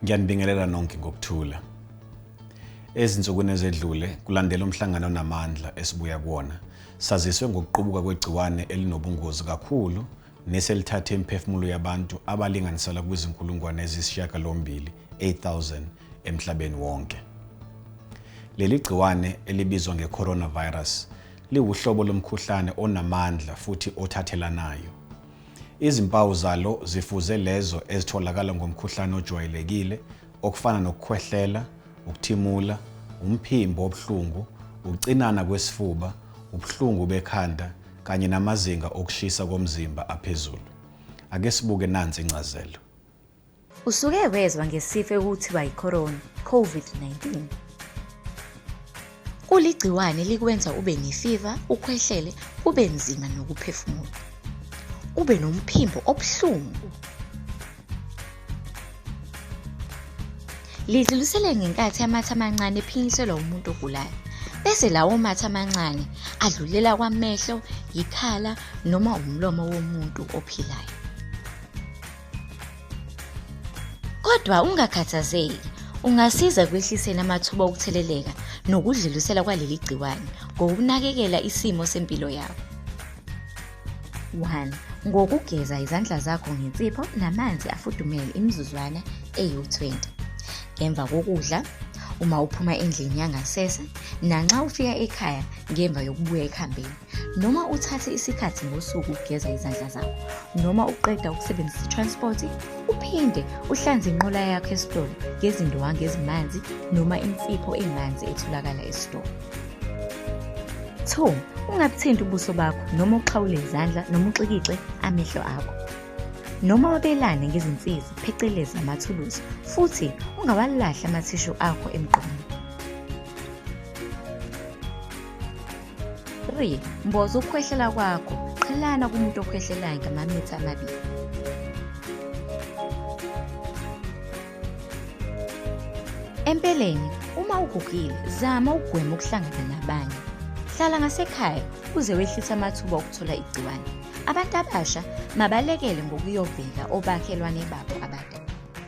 Ngiyanibingelela nonke ngokuthula. Ezinsukwini ezedlule kulandela umhlangano onamandla esibuya kuwona, saziswe ngokuqubuka kwegciwane elinobungozi kakhulu neselithathe imiphefumulo yabantu abalinganiselwa kwizinkulungwane eziyisishiyagalombili 8000 emhlabeni wonke. Leli gciwane elibizwa nge-coronavirus liwuhlobo lomkhuhlane onamandla futhi othathelanayo. Izimpawu zalo zifuze lezo ezitholakala ngomkhuhlane ojwayelekile okufana nokukhwehlela, ukuthimula, umphimbo obuhlungu, ukucinana kwesifuba, ubuhlungu bekhanda kanye namazinga okushisa komzimba aphezulu. Ake sibuke nansi incazelo. Usuke wezwa ngesifo ekuthiwa yiCorona, COVID-19. Kuligciwane likwenza ube nefiva, ukhwehlele, kube nzima nokuphefumula. Ube nomphimbo obuhlungu. Lidlulisele ngenkathi amathe amancane ephinyiselwa umuntu ogulayo. Bese lawo mathe amancane adlulela kwamehlo, yikhala noma umlomo womuntu ophilayo. Kodwa ungakhathazeki, ungasiza ekwehliseni amathuba okutheleleka nokudlulisela kwaleli gciwane ngokunakekela isimo sempilo yakho. 1. Ngokugeza izandla zakho ngensipho namanzi afudumele imizuzwana eyi-20. Ngemva kokudla, uma uphuma endlini yangasese, nanxa ufika ekhaya ngemva yokubuya ekhambeni. noma uthathe isikhathi ngosuku ukugeza izandla zakho noma uqeda ukusebenzisa i-transport uphinde uhlanze inqola yakho esitolo ngezindwangu ezimanzi noma insipho emanzi etholakala esitolo 2 ungabuthinti ubuso bakho noma uxhawule izandla noma uxikixe amehlo akho noma wabelane ngezinsizi phecelezi amathuluzi futhi ungawalahli amathishu akho emgqomeni 3 mboza ukukhwehlela kwakho qhelana kumuntu okhwehlelayo ngamamitha amabili empeleni uma ugugile zama ukugwema ukuhlangana nabanye hlala ngasekhaya uze wehlise amathuba okuthola igciwane abantu abasha mabalekele ngokuyovela obakhelwane babo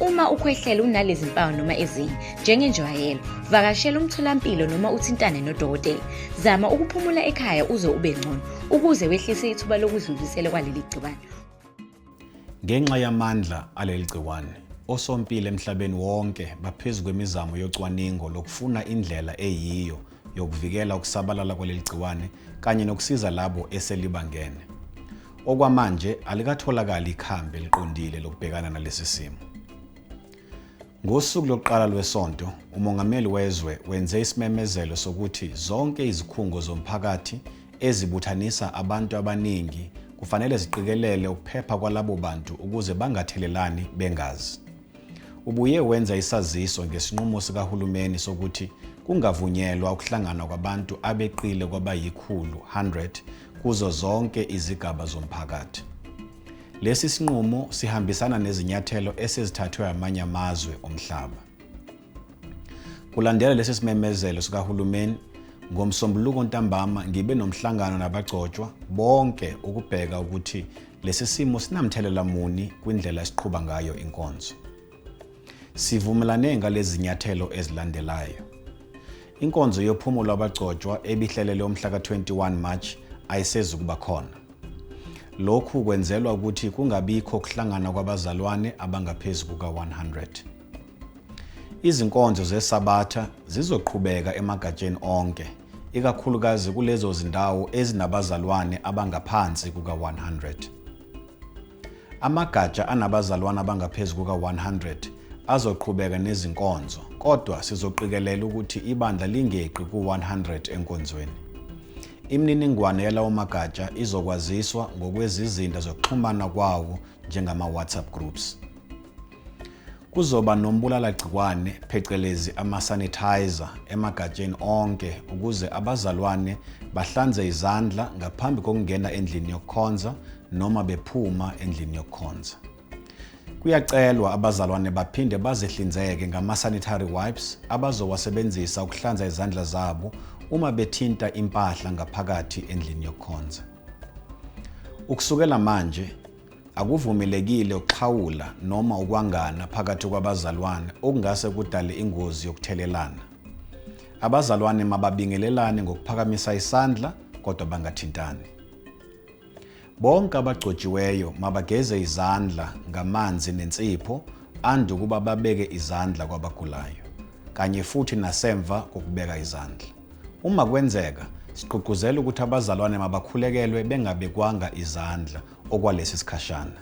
Uma ukhwehlela unalezi mpawu noma ezinye, njengenjwayelo, vakashela umtholampilo noma uthintane nodokotela. Zama ukuphumula ekhaya uze ube ngcono ukuze wehlise ithuba lokudlulisela kwaleli gciwane. Ngenxa yamandla aleli gciwane, osompilo emhlabeni wonke baphezu kwemizamo yocwaningo lokufuna indlela eyiyo yokuvikela ukusabalala kwaleli gciwane kanye nokusiza labo eselibangene. Okwamanje alikatholakali ikhambi eliqondile lokubhekana nalesi simo. Ngosuku lokuqala lwesonto, umongameli wezwe wenze isimemezelo sokuthi zonke izikhungo zomphakathi ezibuthanisa abantu abaningi kufanele ziqikelele ukuphepha kwalabo bantu ukuze bangathelelani bengazi. Ubuye wenza isaziso ngesinqumo sikahulumeni sokuthi kungavunyelwa ukuhlangana kwabantu abeqile kwabayikhulu 100 kuzo zonke izigaba zomphakathi. Lesi sinqumo sihambisana nezinyathelo esezithathwe amanye amazwe omhlaba. Kulandela lesi simemezelo sikahulumeni, ngomsombuluko ntambama ngibe nomhlangano nabagcotshwa bonke ukubheka ukuthi Lesi simo sinamthelela muni kwindlela esiqhuba ngayo inkonzo? Sivumelane ngalezi nyathelo ezilandelayo. Inkonzo yophumulo abagcotshwa ebihlelelwe umhla ka-21 March ayisezukuba khona. Lokhu kwenzelwa ukuthi kungabikho kuhlangana kwabazalwane abangaphezu kuka-100. Izinkonzo zeSabatha zizoqhubeka emagatsheni onke, ikakhulukazi kulezo zindawo ezinabazalwane abangaphansi kuka-100. Amagatsha anabazalwane abangaphezu kuka-100 azoqhubeka nezinkonzo, kodwa sizoqikelela ukuthi ibandla lingeqi ku-100 enkonzweni. Imininingwane yalawo magatsha izokwaziswa ngokwezizinda zokuxhumana kwawo njengama-WhatsApp groups. Kuzoba nombulalagciwane phecelezi ama-sanitizer emagatsheni onke ukuze abazalwane bahlanze izandla ngaphambi kokungena endlini yokukhonza noma bephuma endlini yokukhonza. Kuyacelwa abazalwane baphinde bazihlinzeke ngama-sanitary wipes abazowasebenzisa ukuhlanza izandla zabo uma bethinta impahla ngaphakathi endlini yokukhonza. Ukusukela manje, Akuvumelekile ukuxhawula noma ukwangana phakathi kwabazalwane okungase kudale ingozi yokuthelelana. Abazalwane mababingelelane ngokuphakamisa isandla kodwa bangathintani. Bonke abagcotshiweyo mabageze izandla ngamanzi nensipho ande ukuba babeke izandla kwabagulayo kanye futhi nasemva kokubeka izandla. Uma kwenzeka, sigqugquzela ukuthi abazalwane mabakhulekelwe bengabekwanga izandla okwalesi sikhashana.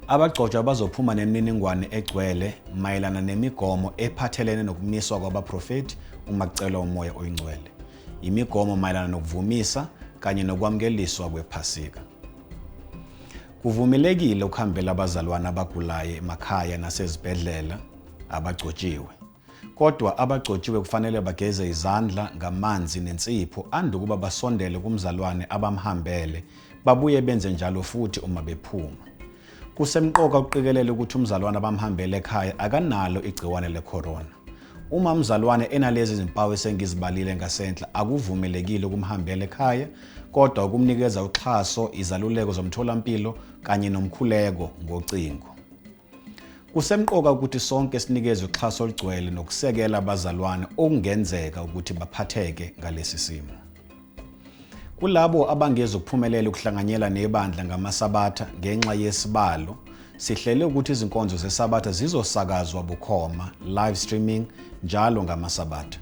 Abagcotshwa bazophuma nemininingwane egcwele mayelana nemigomo ephathelene nokumiswa kwabaprofethi uma kucelwa umoya oyingcwele, imigomo mayelana nokuvumisa kanye nokwamkeliswa kwephasika. Kuvumelekile ukuhambela abazalwane abagulayo emakhaya nasezibhedlela abagcotshiwe. Kodwa abagcotshiwe kufanele bageze izandla ngamanzi nensipho ande ukuba basondele kumzalwane abamhambele, babuye benze njalo futhi uma bephuma. Kusemqoka ukuqikelela ukuthi umzalwane abamhambele ekhaya akanalo igciwane lecorona. Uma umzalwane enalezi zimpawu esengizibalile ngasenhla, akuvumelekile ukumhambela ekhaya, kodwa ukumnikeza uxhaso, izaluleko zomtholampilo kanye nomkhuleko ngocingo. Kusemqoka ukuthi sonke sinikeze uxhaso olugcwele nokusekela abazalwane okungenzeka ukuthi baphatheke ngalesi simo. Kulabo abangezi ukuphumelela ukuhlanganyela nebandla ngamasabatha ngenxa yesibalo, sihlele ukuthi izinkonzo zesabatha zizosakazwa bukhoma, live streaming, njalo ngamasabatha.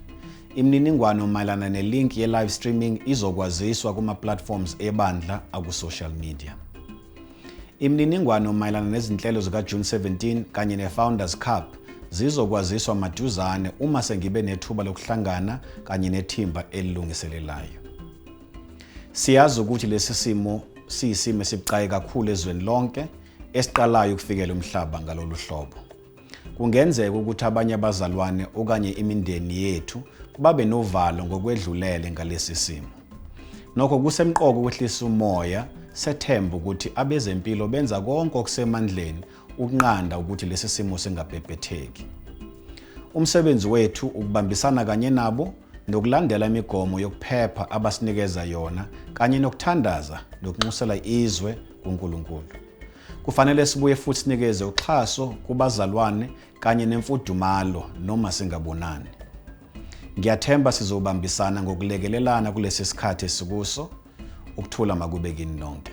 Imininingwano mayelana nelink ye-live streaming izokwaziswa kuma-platforms ebandla akusocial media. Imininingwano mayelana nezinhlelo zikaJune 17 kanye neFounders Cup zizokwaziswa maduzane uma sengibe nethuba lokuhlangana kanye nethimba elilungiselelayo. Siyazi ukuthi lesi simo siyisimo esibucayi kakhulu ezweni lonke esiqalayo ukufikela umhlaba ngalolu hlobo. Kungenzeka ukuthi abanye abazalwane okanye imindeni yethu babe novalo ngokwedlulele ngalesi simo. Nokho kusemqoka ukwehlisa umoya sethemba ukuthi abezempilo benza konke okusemandleni ukunqanda ukuthi lesi simo singabhebhetheki. Umsebenzi wethu ukubambisana kanye nabo nokulandela imigomo yokuphepha abasinikeza yona kanye nokuthandaza nokunxusela izwe kuNkulunkulu. Kufanele sibuye futhi sinikeze uxhaso kubazalwane kanye nemfudumalo noma singabonani. Ngiyathemba sizobambisana ngokulekelelana kulesi sikhathi esikuso. Ukuthula makube kini nonke.